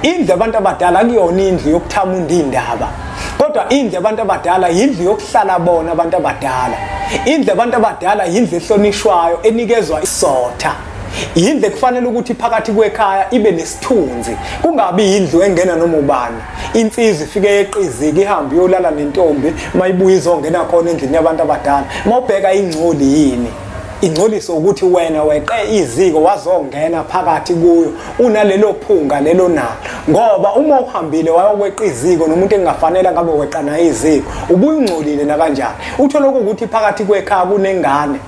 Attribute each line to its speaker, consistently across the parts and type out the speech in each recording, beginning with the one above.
Speaker 1: Indlu abantu abadala akuyona indlu yokuthama undindaba kodwa indlu abantu abadala yindlu yokuhlala bona abantu abadala indlu abantu abadala yindlu ehlonishwayo enikezwa isotha yindlu ekufanele ukuthi phakathi kwekhaya ibe nesithunzi kungabi yindlu engena noma ubani insizwa ifike yeqiziki ihambe iyolala nentombi mayibuye izongena khona endlini yabantu abadala mawubheka ingcoli yini ingcoliso ukuthi wena weqe iziko wazongena phakathi kuyo unalelo phunga lelo nalo ngoba uma uhambile wayokweqa iziko nomuntu engafanele ngabe weqa naye iziko ubuyingcolile nakanjani uthole ukuthi phakathi kwekhaya kunengane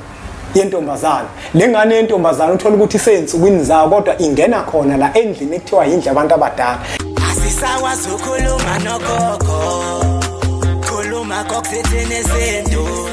Speaker 1: yentombazana le ngane yentombazana uthola ukuthi isensukwini zayo kodwa ingena khona la endlini ekuthiwa yindle abantu abadala asisakwazi
Speaker 2: ukhuluma nogogo khuluma kokuthethini esintu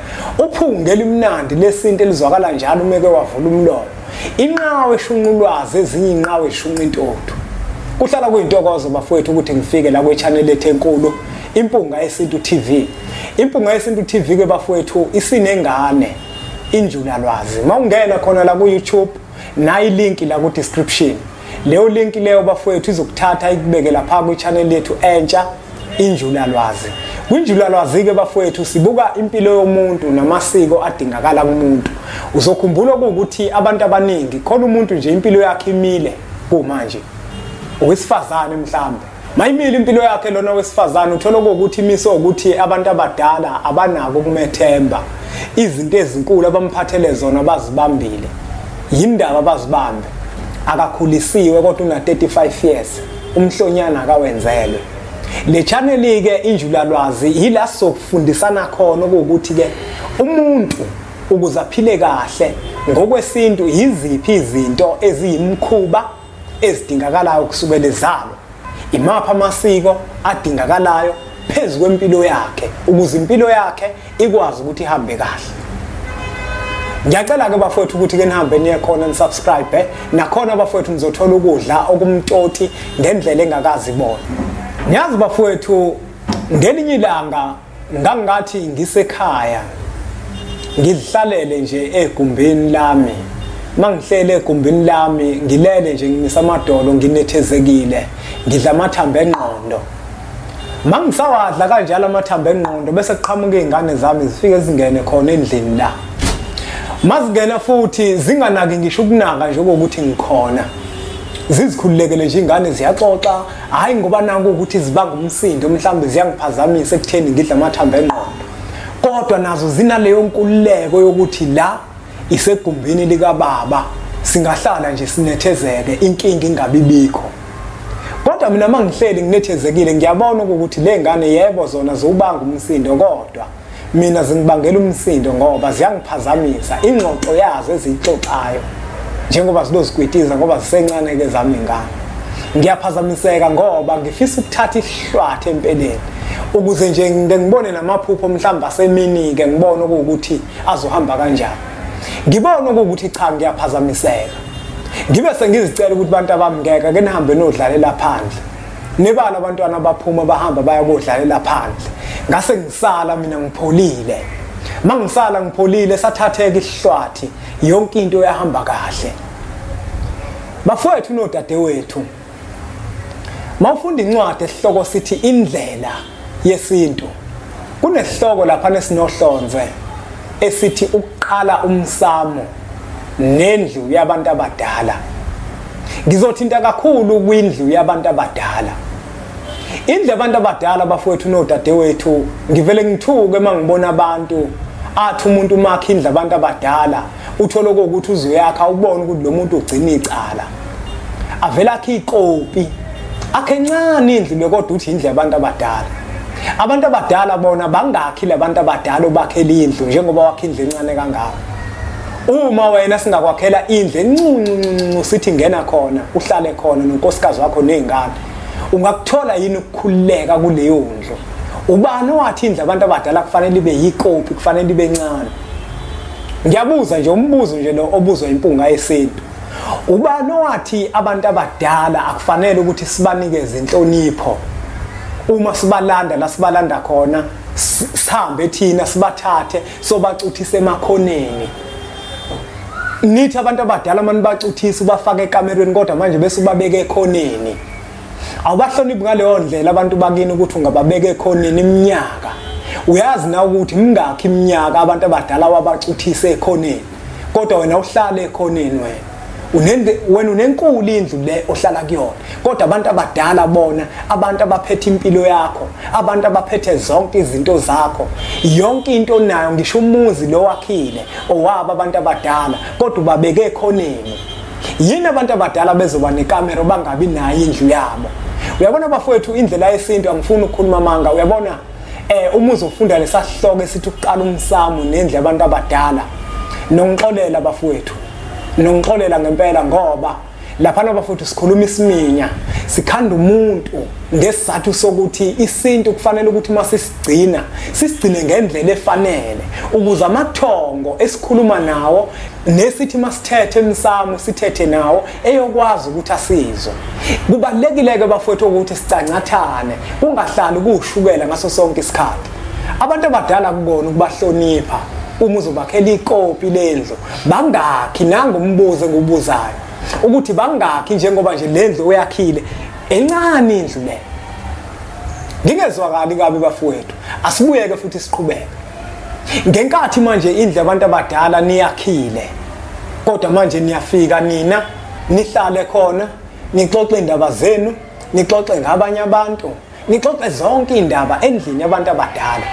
Speaker 1: Uphunga elimnandi lesintu elizwakala njalo umeke wavula umlomo. Inqawe eshunqulwazi ezinye inqawe eshunqa intotho. Kuhlala kuyintokozo bafowethu ukuthi ngifike la kwe-channel ethu enkulu Impunga Yesintu TV. Impunga Yesintu TV ke bafowethu isinengane injulalwazi. Mawungena khona la ku-YouTube nayi link la ku description leyo link leyo bafowethu izokuthatha ikubeke lapha ku channel yethu entsha injulalwazi kwinjulalwazi ke bafowethu sibuka impilo yomuntu namasiko adingakala kumuntu uzokhumbula ukuthi abantu abaningi khona umuntu nje impilo yakhe imile kumanje owesifazane mhlambe Mayimile impilo yakhe lona wesifazane uthola ukuthi imiso ukuthi abantu abadala abanako kumethemba izinto ezinkulu abamphathele zona bazibambile yindaba bazibambe akakhulisiwe kodwa una 35 years umhlonyana akawenzelwe le channel ke injulalwazi yila sokufundisana khona ukuthi ke umuntu ukuze aphile kahle ngokwesintu yiziphi izinto eziyimkhuba ezidingakalayo kusukela ezalwa imaphi amasiko adingakalayo phezu kwempilo yakhe ukuze impilo yakhe ikwazi ukuthi ihambe kahle ngiyacela-ke bafowethu ukuthi ke nihambe niye khona nisubscribe eh? nakhona bafowethu nizothola ukudla okumtoti ngendlela engakazi bona niyazi bafowethu ngelinye ilanga Ngangathi ngisekhaya ngidlalele nje egumbini lami mangihlele egumbini lami ngilele nje ngimisa amadolo nginethezekile ngidla amathambo engqondo mangisawadla kanjalo amathambo engqondo bese kuqhamuka izingane zami zifike zingene khona endlini la mazingena futhi zinganaki ngisho ukunaka njengokuthi ngikhona zizikhululekele nje ingane ziyaxoxa hhayi ngoba naku ukuthi zibanga umsindo mhlawumbe ziyangiphazamisa ekutheni ngidle amathambo engqondo kodwa nazo zinaleyo nkululeko yokuthi la isegumbini likababa singahlala nje sinethezeke inkinga ingabibikho kodwa mina mangihleli nginethezekile ngiyabona ukuthi le ngane yebo zona ziwubanga umsindo kodwa mina zingibangela umsindo ngoba ziyangiphazamisa ingxoxo yazo eziyixoxayo njengoba zinozikwitiza ngoba zisencane-ke zami ngane ngiyaphazamiseka ngoba ngifisa ukuthatha isihlwathi empeleni ukuze nje ngike ngibone namaphupho mhlawumbe asemini-ke ngibone okuwukuthi azohamba kanjani ngibone okuwukuthi cha ngiyaphazamiseka ngibe sengizicela ukuthi abantu abami ngeke ke nihambe nodlalela phandle nebala abantwana baphuma bahamba baya kodlalela phandle ngase ngisala mina ngipholile mangisala ngipholile sathatheka isihlwathi yonke into yahamba kahle bafowethu nodadewethu mawufunda incwadi esihloko sithi indlela yesintu kunesihloko lapha nesinohlonze esithi ukuqala umsamo nendlu yabantu abadala ngizothinta kakhulu kwindlu yabantu abadala indlu yabantu abadala bafowethu nodadewethu ngivele ngithuke uma ngibona abantu athi umuntu umakhe indlu abantu abadala uthole ukuthi uzoyakha ubone ukuthi lo muntu ugcina icala avela akhe ikopi akhe ncane indlu bekodwa uthi indlu yabantu abadala abantu abadala bona bangakhi labantu abadala obakhela indlu njengoba wakhe indlu encane kangaka uma wena singakwakhela indlu encuncuncu sithi ngena khona uhlale khona nonkosikazi wakho nezingane ungakuthola yini ukukhululeka kuleyo ndlu ubani owathi indlu abantu abadala kufanele ibe yikopi kufanele ibe ncane Ngiyabuza nje umbuzo nje lo obuzwa impunga yesintu. Ubani owathi abantu abadala akufanele ukuthi sibanikeze inhlonipho uma sibalanda la sibalanda khona sihambe thina sibathathe sobacuthise emakhoneni nithi abantu abadala mani bacuthisa ubafaka ekamerweni kodwa manje bese ubabeke ekhoneni awubahloniphi ngaleyo ndlela abantu bakini ukuthi ungababeka ekhoneni iminyaka uyazi na ukuthi mingakhi iminyaka abantu abadala wabacuthise ekhoneni kodwa wena uhlale ekhoneni wena unende wena unenkulu indlu le ohlala kuyona kodwa abantu abadala bona abantu abaphethe impilo yakho abantu abaphethe zonke izinto zakho yonke into nayo ngisho umuzi lo wakhile owaba abantu abadala kodwa ubabeke ekhoneni yini abantu abadala bezoba nekamero bangabi nayo indlu yabo uyabona bafowethu indlela yesintu angifuni ukukhuluma amanga uyabona eh uma uzofunda lesasihloko esithi ukuqala umsamo nendle abantu abadala nongixolela bafowethu nongixolela ngempela ngoba lapha nabafowethu sikhuluma isiminya sikhanda umuntu ngesizathu sokuthi isintu kufanele ukuthi uma sisigcina sisigcine ngendlela efanele ukuze amathongo esikhuluma nawo nesithi masithethe emsamo sithethe nawo eyokwazi ukuthi asizwe kubalekile ke bafowethu ukuthi sicancathane kungahlali kushukela ngaso sonke isikhathi abantu abadala kubona ukubahlonipha uma uzobakhela ikopi lendlu bangakhi nangu umbuzo engibuzayo ukuthi bangakhi njengoba nje lendlu oyakhile encane indlu le ngingezwakali kabi bafowethu asibuyeke futhi siqhubeke ngenkathi manje indlu yabantu abadala niyakhile kodwa manje niyafika nina nihlale khona nixoxe indaba zenu nixoxe ngabanye abantu nixoxe zonke indaba endlini yabantu abadala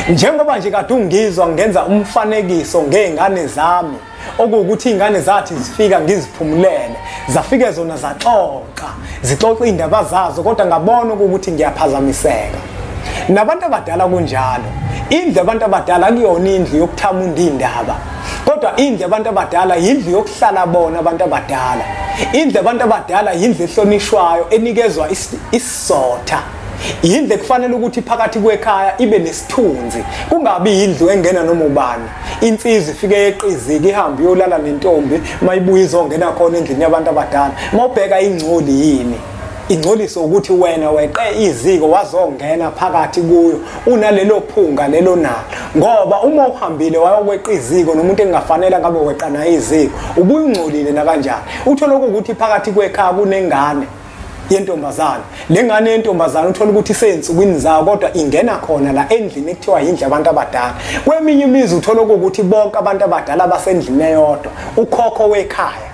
Speaker 1: njengoba nje kade ungizwa ngenza umfanekiso ngezingane zami okuwukuthi iy'ngane zathi zifika ngiziphumulele zafike zona zaxoxa zixoxa iy'ndaba zazo kodwa ngabona okuwukuthi ngiyaphazamiseka nabantu abadala kunjalo indlu abantu abadala kuyona indlu yokuthama undindaba kodwa indlu abantu abadala yindlu yokuhlala bona abantu abadala indlu abantu abadala yindlu ehlonishwayo enikezwa isizotha yindlu ekufanele ukuthi phakathi kwekhaya ibe nesithunzi kungabi yindlu engena noma ubani insizwa ifike yeqiziki ihambe iyolala nentombi mayibuye izongena khona endlini yabantu abadala mawubheka ingcoli yini ingcoliso ukuthi wena weqe iziko wazongena phakathi kuyo unalelo phunga lelo nalo ngoba uma uhambile wayokweqa iziko nomuntu engafanele ngabe weqa naye iziko ubuyingcolile nakanjani uthole ukuthi phakathi kwekhaya kunengane yentombazane le ngane yentombazane uthola ukuthi isezinsukwini zayo kodwa ingena khona la endlini ekuthiwa yindlu abantu abadala kweminye imizi uthola ukuthi bonke abantu abadala basendlini eyodwa ukhokho wekhaya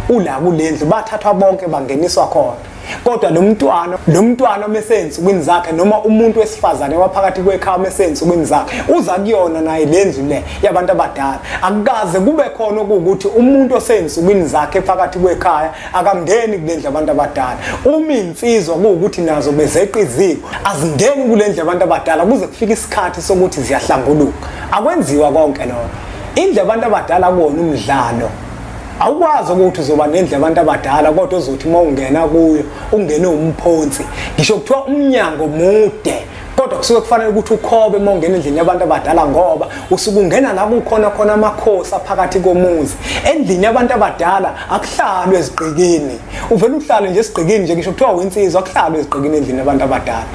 Speaker 1: ula kule ndlu bathathwa bonke bangeniswa khona kodwa lo mntwana lo mntwana omesezinsukwini zakhe noma umuntu wesifazane waphakathi kwekhaya omesezinsukwini zakhe uza kuyona naye le ndlu le yabantu abadala akukaze kube khona ukuthi umuntu osezinsukwini zakhe phakathi kwekhaya akangeni kule ndlu abantu abadala uma iy'nsizwa kuwukuthi nazo bezeqa iziko azingeni kule ndlu abantu abadala kuze kufike isikhathi sokuthi ziyahlambuluka akwenziwa konke lokho indlu abantu abadala kuwona umdlalo awukwazi ukuthi uzoba nendle abantu abadala kodwa uzothi uma ungena kuyo ungene umphonsi ngisho kuthiwa umnyango mude kodwa kusuke kufanele ukuthi ukhobe uma ungena endlini yabantu abadala ngoba usuke ungena la kukhona khona amakhosi aphakathi komuzi endlini yabantu abadala akuhlalwe ezigqikini uvele uhlale nje esigqikini nje ngisho kuthiwa winsizwa akuhlalwe ezigqikini endlini yabantu abadala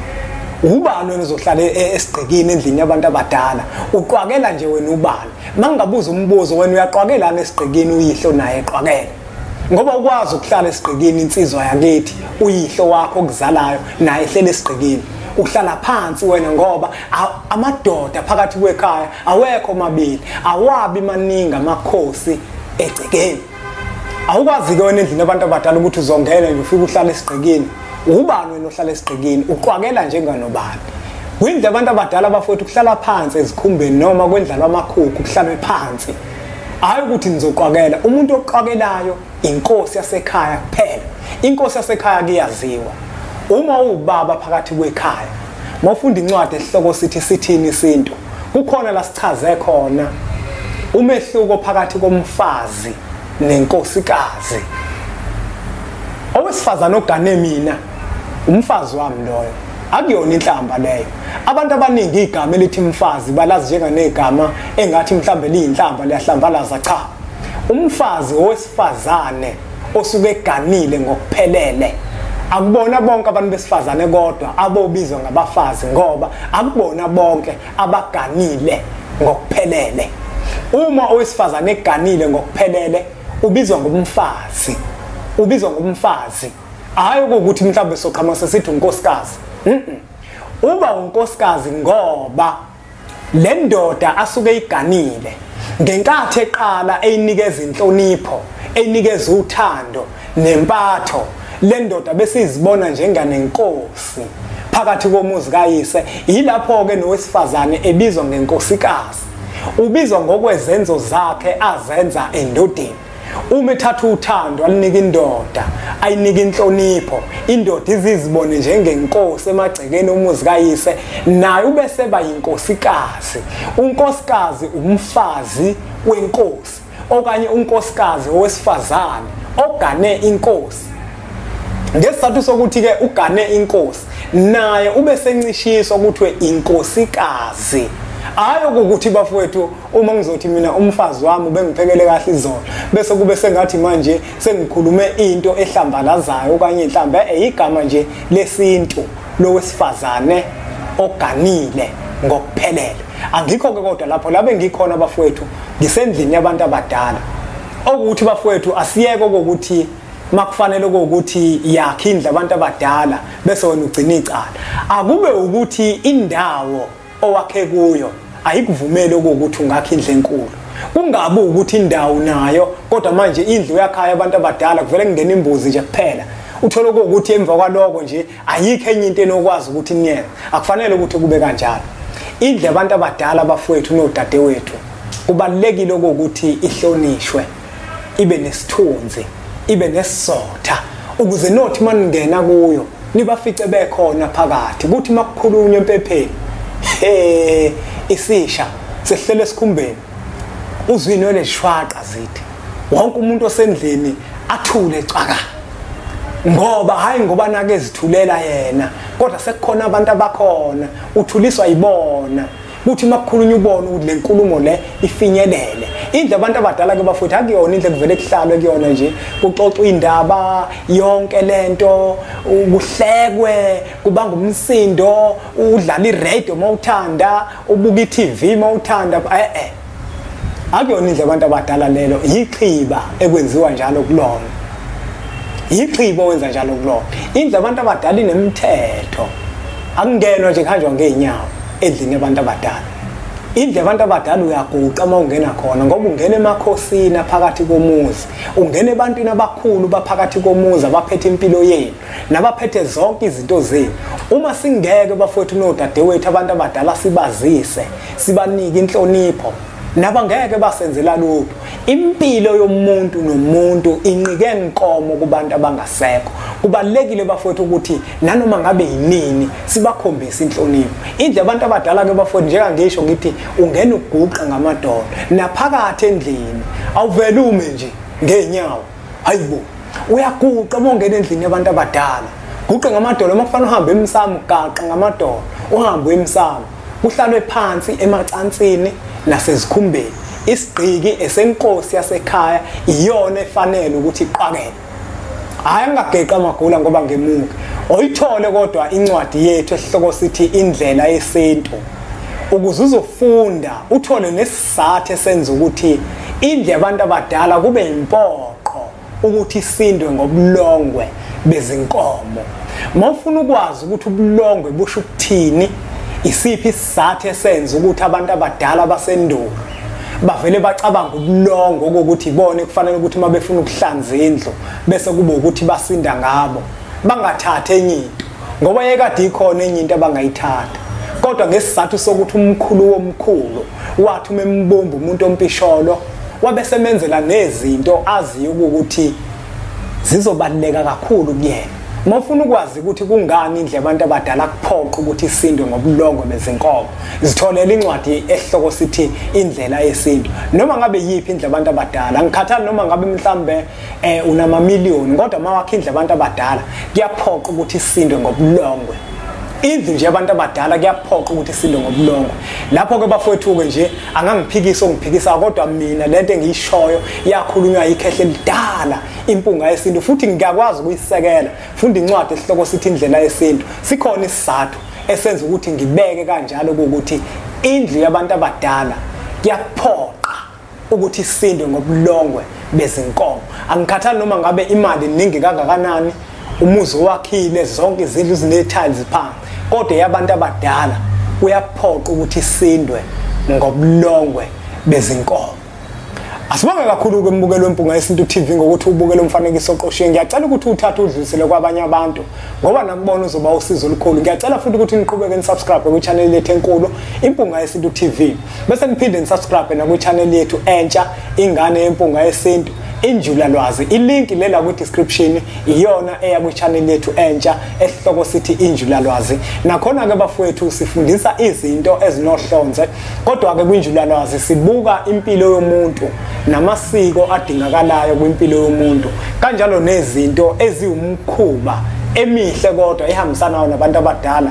Speaker 1: ubani wena uzohlala e-, e-, esigqikini endlini yabantu abadala uqwakela nje wena ubani mangingabuza umbuzo wena uyaqwakelana esigqikini uyihle unaye eqwakela ngoba ukwazi ukuhlala esigqikini insizwa yakithi uyihlo wakho okuzalayo naye ehlele esigqikini uhlala phansi wena ngoba amadoda phakathi kwekhaya awekho mabili awabi maningi amakhosi egcekeni awukwazi-ke wena endlini abantu abadala ukuthi uzongena nje ufike uhlala esigqikini ubani wena ohlala esigqikini uqwakela njenganobani kwindlu abantu abadala bafowethu kuhlala phansi ezikhumbeni noma kwendlalwa amakhukhu kuhlalwe phansi hayi ukuthi nizoqwakela umuntu oqwakelayo inkosi yasekhaya kuphela inkosi yasekhaya kuyaziwa uma uwubaba phakathi kwekhaya mawufunda incwadi esihloko sithi sithini isintu kukhona la sichaze khona umehluko phakathi komfazi nenkosikazi owesifazane ogane mina umfazi wami loyo akuyona inhlamba leyo abantu abaningi igama elithi mfazi balazi njenganegama engathi mhlambe liyinhlamba liyahlambalaza cha umfazi owesifazane osuke eganile ngokuphelele akubona bonke abantu besifazane kodwa abobizwa ngabafazi ngoba akubona bonke abaganile ngokuphelele uma owesifazane eganile ngokuphelele ubizwa ngomfazi ubizwa ngomfazi Hayi ukuthi mhlawumbe soqhama sesithi unkosikazi. Uba unkosikazi ngoba le ndoda asuke iganile ngenkathi eqala eyinikeza inhlonipho, eyinikeza uthando nempatho. Le ndoda besizibona njengane inkosi. phakathi komuzi kayise yilapho-ke nowesifazane ebizwa ngenkosikazi ubizwa ngokwezenzo zakhe azenza endodeni uma ethatha uthando alinika indoda ayinika inhlonipho indoda izizibone njengenkosi emagcekeni omuzi kayise naye ubese ba yinkosikazi unkosikazi umfazi wenkosi okanye unkosikazi owesifazane ogane inkosi ngesizathu sokuthi ke ugane inkosi naye ube sencishiswa kuthiwe inkosikazi hayi ukuthi bafowethu uma ngizothi mina umfazi wami ubengiphekele kahle izolo bese kube sengathi manje sengikhulume into ehlambalazayo okanye mhlambe eyigama eh, nje lesintu lowesifazane oganile ngokuphelele angikho ke kodwa lapho labe ngikhona bafowethu ngisendlini yabantu abadala okuthi bafowethu asiyeke ukuthi makufanele ukuthi yakhe indle abantu abadala bese wena ugcina icala akube ukuthi indawo owakhe kuyo ayikuvumeli okuwukuthi ungakha indlu enkulu kungabi ukuthi indawo nayo kodwa manje indlu yakhaya abantu abadala kuvele kungena imbuzi nje kuphela uthole ukuthi emva kwaloko nje ayikho enye into enokwazi ukuthi niyenze akufanele ukuthi kube kanjalo indle abantu abadala abafowethu nodadewethu kubalulekile ukuthi ihlonishwe ibe nesithunzi ibe nesizotha ukuze nothi maningena kuyo nibafice bekhona phakathi kuthi makukhulunywa empepheni he isisha sehlele esikhumbeni uzwini weleshwaqa zithi wonke umuntu osendlini athule cwaka ngoba hayi ngoba nake zithulela yena kodwa sekukhona abantu abakhona uthuliswa yibona kuthi uma kukhulunywa ubona ukuthi le nkulumo le ifinyelele indle abantu abadala ke bafowethu akuyona indle kuvele kuhlalwe kuyona nje kuxoxwa indaba yonke lento kuhlekwe kubanga umsindo udlala iradio uma uthanda ubuka i-tv uma uthanda e-e akuyona indlela abantu abadala lelo yixhiba ekwenziwa njalo kulona yixhiba owenza njalo kulona indlela abantu abadala inemithetho akungenwa nje kuhanjwa ngeenyawo endlini yabantu abadala indlela abantu abadala uyaguqa uma ungena khona ngoba ungena emakhosini aphakathi komuzi ungena ebantwini abakhulu baphakathi komuzi abaphethe impilo yenu nabaphethe zonke izinto zenu uma singeke bafowethu nodadewethu abantu abadala sibazise sibanike inhlonipho naba ngeke basenzela lutho impilo yomuntu nomuntu inqike nkomo kubantu abangasekho kubalekile bafowethu ukuthi nanoma ngabe yinini sibakhombise inhlonipho indle abantu abadala ke bafowethu njeka ngisho ngithi ungena uguqa ngamadolo naphakathi endlini awuvele ume nje ngenyawo hayibo uyaguqa uma ungena endlini yabantu abadala guqe ngamadolo uma kufanele uhambe emsamo gaqa ngamadolo uhambe emsamo kuhlalwe phansi emacansini nasezikhumbeni isigqiki esenkosi yasekhaya iyona efanele ukuthi iqakele hayi angageqa amagula ngoba ngemuke oyithole kodwa incwadi yethu esihloko sithi indlela yesintu ukuze uzofunda uthole sathe senza ukuthi indle abantu abadala kube impoqo ukuthi isindwe ngobulongwe bezinkomo mawufuna ukwazi ukuthi ubulongwe busho ukuthini isiphi isizathu esenza ukuthi abantu abadala basendulo bavele bacabanga ubulongo kokuthi ibona kufanele ukuthi uma befuna ukuhlanza indlu bese kube ukuthi basinda ngabo bangathathi enye into ngoba yekade ikhona enye into abangayithatha kodwa ngesizathu sokuthi umkhulu womkhulu wathi uma embumba umuntu ompisholo wabe semenzela nezinto aziyo ukuthi zizobaluleka kakhulu kuyena uma ufuna ukwazi ukuthi kungani indlela abantu abadala kuphoqa ukuthi isindwe ngobulongo bezinkomo zitholela incwadi esihloko sithi indlela yesintu noma ngabe yiphi indlela abantu abadala ngikhathali noma ngabe mhlambe eh unamamiliyoni kodwa mawakhe indlu abantu abadala kuyaphoqa ukuthi isindwe ngobulongwe indlu nje abantu abadala kuyaphoqa ukuthi isindwe ngobulongwe lapho ke bafowethu-ke nje angangiphikisa ongiphikisa kodwa mina le nto engiyishoyo yakhulunywa yikhehle elidala impunga yesintu futhi ngiyakwazi ukuyisekela funda incwadi esihloko sithi indlela yesintu sikhona isizathu esenza ukuthi ngibeke kanjalo ukuthi indlu yabantu abadala kuyaphoqa ukuthi isindwe ngobulongwe bezinkomo angikhathali noma ngabe imali ningi kangakanani umuzi owakhile zonke izindlu zinetiles phansi kodwa yabantu abadala kuyaphoqa ukuthi isindwe ngobulongwe bezinkomo asibonge kakhulu-ke umbukelo wempunga yesintu tv ngokuthi ubukele umfanekiso oqoshiwe ngiyacela ukuthi uthathe udlulisele kwabanye abantu ngoba nakubona uzoba usizo olukhulu ngiyacela futhi ukuthi niqhubeke nisubscribe kwichaneli lethu enkulu impunga yesintu tv bese niphinde nisubscribe nakwichannel yethu entsha ingane yempunga yesintu injula lwazi ilink lela kwi-description iyona eya kwi-channel yethu entsha esihloko sithi injula lwazi nakhona-ke bafowethu sifundisa izinto ezinohlonze kodwa-ke kwinjula lwazi sibuka impilo yomuntu namasiko adingakalayo kwimpilo yomuntu kanjalo nezinto eziwumkhuba emihle kodwa ehambisanayo nabantu abadala